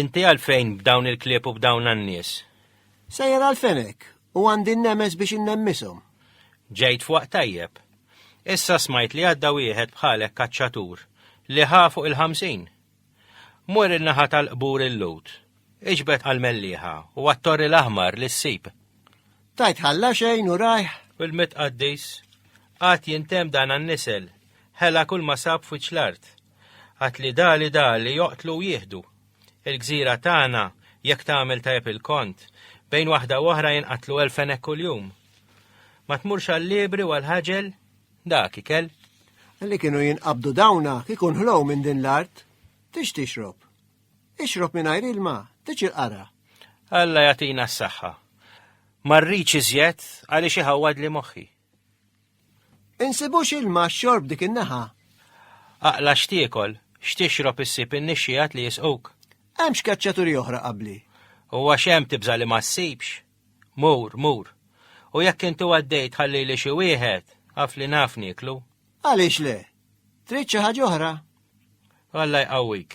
Inti għalfejn b'dawn il-klieb u b'dawn għan-nies? Sejjer għalfejn hekk u għandi n-nemes biex innemmishom. Ġejt fuq tajjeb. Issa smajt li għadda wieħed bħalek kaċċatur li ħa fuq il-ħamsin. Mur in-naħa tal-qbur il-lut. Iġbed għal-melliħa u għattorri l-aħmar li ssib. Tajt ħalla xejn u rajħ. Il-mitqaddis għat jintem dan għan-nisel, ħela kull ma sab fuċ l-art. Għad li dali dali joqtlu u jieħdu. Il-gżira tagħna, jekk tagħmel tajjeb il-kont, bejn waħda u oħra jinqatlu elf fennek kuljum. Ma tmurx għall-libri u għall-ħaġel dak ikel. Li kienu jinqabdu dawna kikun ħlow minn din l-art, tix tixrob. Ixrob mingħajr ilma, tix il-qara. Alla jatina s-saħħa. Marriċ iżjed għaliex iħawad li moħħi. Insibux ilma xorb dik in-naħa. Aqla x'tiekol, x'tixrob issib in-nixxiegħat li jisquk. Hemm x'keċċaturi oħra qabli. U għax hemm tibża' li ma ssibx. Mur, mur. U jekk intu għaddejt ħallili xi wieħed, għaf li naf nieklu. Għaliex le? Trid xi ħaġa oħra? Alla jqawwik.